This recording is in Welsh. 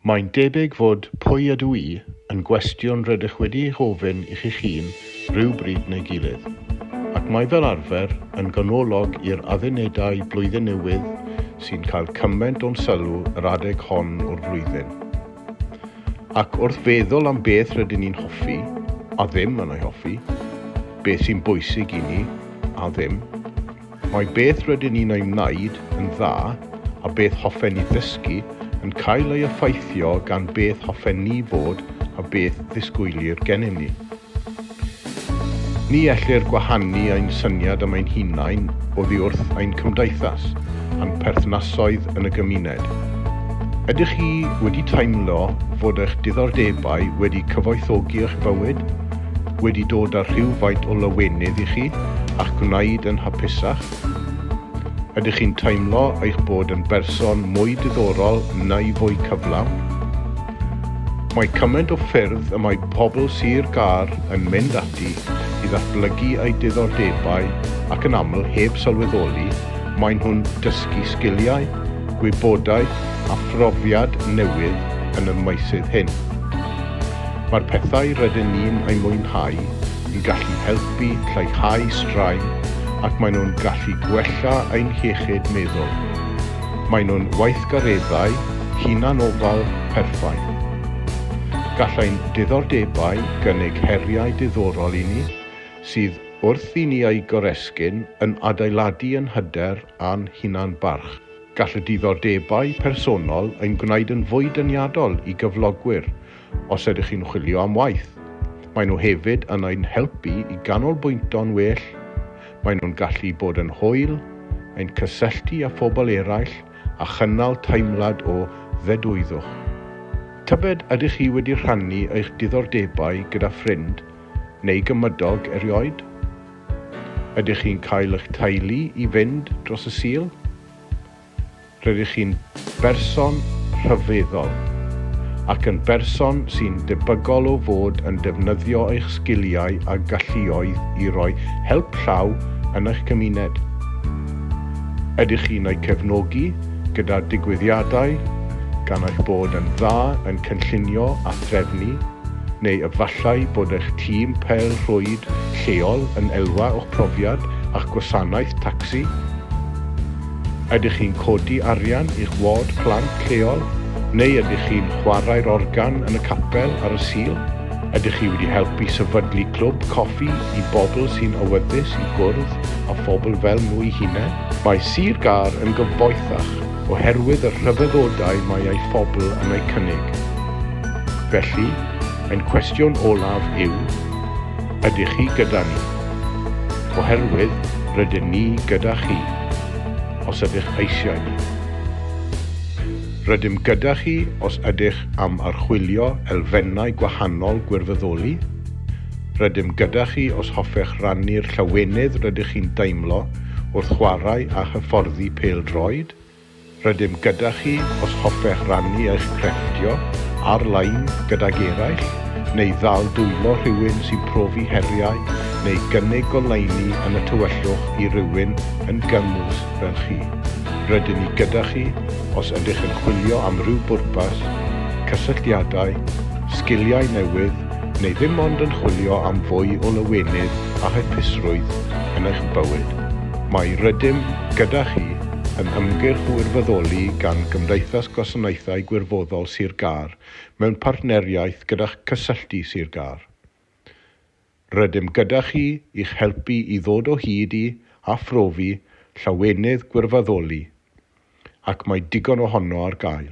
Mae'n debyg fod 'pwy ydw i? yn gwestiwn rydych wedi ei gofyn i chi'ch hun ryw bryd neu gilydd, ac mae fel arfer yn ganolog i'r addunedau Blwyddyn Newydd sy'n cael cymaint o'n sylw yr adeg hon o'r flwyddyn. Ac wrth feddwl am beth rydyn ni'n hoffi, a ddim yn ei hoffi, beth sy'n bwysig i ni, a ddim, Mae beth rydyn ni'n ei wneud yn dda a beth hoffen ni ddysgu yn cael ei effeithio gan beth hoffen ni fod a beth ddisgwylir gennym ni. Ni ellir gwahanu ein syniad am ein hunain oddi wrth ein cymdeithas a'n perthnasoedd yn y gymuned. Ydych chi wedi teimlo fod eich diddordebau wedi cyfoethogi eich bywyd? wedi dod â rhywfaint o lawenydd i chi a'ch gwneud yn hapusach? Ydych chi'n teimlo eich bod yn berson mwy diddorol neu fwy cyflawn? Mae cymaint o ffyrdd y mae pobl Sir Gâr yn mynd ati i ddatblygu eu diddordebau ac yn aml heb sylweddoli maen nhw'n dysgu sgiliau, gwybodaeth a phrofiad newydd yn y meysydd hyn. Mae'r pethau rydyn ni'n eu mwynhau yn gallu helpu lleihau straen ac maen nhw'n gallu gwella ein hiechyd meddwl. Maen nhw'n weithgareddau hunanofal perffaith. Gall ein diddordebau gynnig heriau diddorol i ni, sydd wrth i ni eu goresgyn yn adeiladu ein hyder a'n hunan-barch. Gall y diddordebau personol ein gwneud yn fwy deniadol i gyflogwyr os ydych chi'n chwilio am waith. Maen nhw hefyd yn ein helpu i ganolbwyntio'n well, maen nhw'n gallu bod yn hwyl, ein cysylltu â phobl eraill a chynnal teimlad o ddedwyddwch. Tybed ydych chi wedi rhannu eich diddordebau gyda ffrind neu gymydog erioed? Ydych chi'n cael eich teulu i fynd dros y Sul? Rydych chi'n berson rhyfeddol ac yn berson sy'n debygol o fod yn defnyddio eich sgiliau a galluoedd i roi help llaw yn eich cymuned. Ydych chi'n eu cefnogi gyda digwyddiadau gan eich bod yn dda yn cynllunio a threfnu? Neu efallai bod eich tîm pêl-rwyd lleol yn elwa o'ch profiad â'ch gwasanaeth tacsi? Ydych chi'n codi arian i'ch ward plant lleol? Neu ydych chi'n chwarae'r organ yn y capel ar y Sul? Ydych chi wedi helpu sefydlu clwb coffi i bobl sy'n awyddus i gwrdd â phobl fel nhw'u hunain? Mae Sir Gâr yn gyfoethach oherwydd y rhyfeddodau mae ei phobl yn eu cynnig. Felly, ein cwestiwn olaf yw, ydych chi gyda ni? Oherwydd rydyn ni gyda chi, os ydych eisiau ni. Rydym gyda chi os ydych am archwilio elfennau gwahanol gwirfoddoli, rydym gyda chi os hoffech rannu'r llawenydd rydych chi'n deimlo wrth chwarae a hyfforddi pêl-droed? Rydym gyda chi os hoffech rannu eich crefftio ar-lein gydag eraill, neu ddal dwylo rhywun sy'n profi heriau neu gynnig goleuni yn y tywyllwch i rywun yn gymwys fel chi. Rydyn ni gyda chi os ydych yn chwilio am ryw bwrpas, cysylltiadau, sgiliau newydd, neu ddim ond yn chwilio am fwy o lawenydd a hapusrwydd yn eich bywyd, mae Rydym Gyda Chi, yn ymgyrch wirfoddoli gan Gymdeithas Gwasanaethau Gwirfoddol Sir Gâr mewn partneriaeth gyda'ch Cysylltu Sir Gâr. Rydym gyda chi i'ch helpu i ddod o hyd i, a phrofi, llawenydd gwirfoddoli, ac mae digon ohono ar gael.